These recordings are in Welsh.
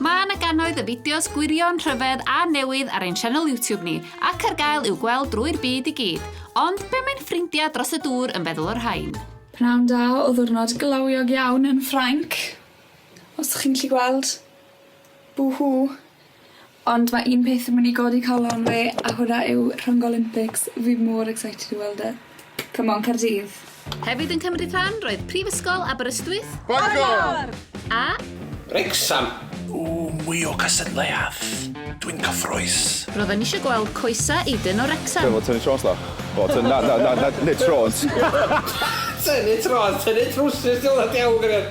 Mae yna gannoedd y fideos gwirion, rhyfedd a newydd ar ein sianel YouTube ni, ac ar gael i'w gweld drwy'r byd i gyd. Ond be mae'n ffrindiau dros y dŵr yn feddwl o'r rhain? Pnawn da o ddwrnod glawiog iawn yn Ffrainc. Os ydych chi'n gallu gweld. Boo-hoo. Ond ma' un peth yn myn' i godi calon fi a hwnna yw Rhyngo Olympics. Fi mor excited i weld e. Come on Caerdydd. Hefyd yn cymryd rhan roedd Prifysgol Aberystwyth. Bangor! A. Wrecsam! Ooh mwy o gystadleuadd! Dwi'n cyffroes! Ro'dden nisio gweld coesa Aiden o Wrecsam. Be' fo tynnu trôns tha? O ty- na na na na nid trôns. Tynnu trôns, tynnu trwsus 'di wnna diawl gwirion.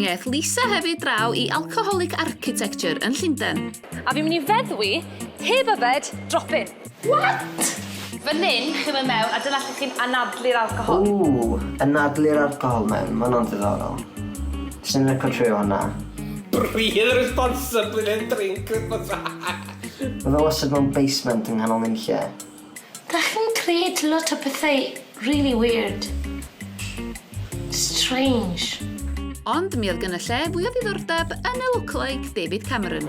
Mi aeth Lisa hefyd draw i Alcoholic Architecture yn Llundain. A fi'n mynd i feddwi, heb yfed, dropin. What? Fan hyn, chi'n mynd mewn a dyna lle chi'n anadlu'r alcohol. Ww, anadlu'r alcohol mewn, ma hwnna'n ddiddorol. Sy'n lico trio hwnna? Breathe responsibly then drink responsibly. Mae fe wastad mewn basement yng nghanol nunlle. Dach chi'n creud lot o pethau rili weird. Strange. Ond mi oedd gynna lle fwy o ddiddordeb yn y lookalike David Cameron.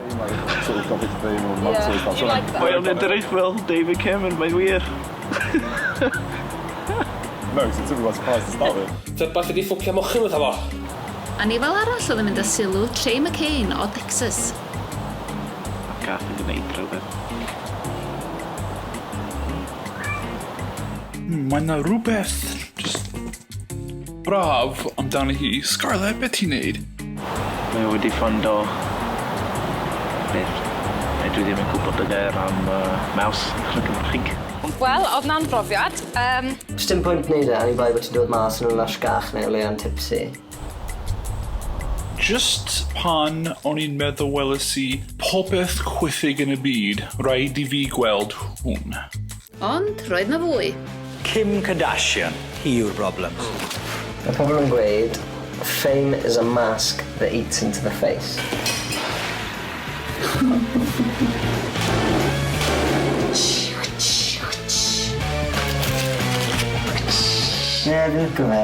Mae o'n edrych fel David Cameron, mae'n wir! Tybed beth ydi ffwcio mochyn fatha fo? Anifail arall oedd yn mynd â sylw Trey McCain o Dexys. Mae'r gath yn gwneud rhywbeth. Hmm, mae yna rhywbeth just braf amdani hi. Scarlett, beth ti'n neud? Mae wedi ffondo beth a dwi ddim yn gwybod y gair am uh, maws yn y Gymraeg. Wel, oedd na'n brofiad. Um... Does dim pwynt wneud e, ani bai bod ti'n dod mas yn y lash gach neu o leia'n tipsy. Just pan o'n i'n meddwl weles i popeth chwithig yn y byd, raid i fi gweld hwn. Ond roedd 'na fwy. Kim Kardashian, hi yw'r broblem. Mae pobl yn gweud Fame is a mask that eats into the face. Ie, fi'n lico fe.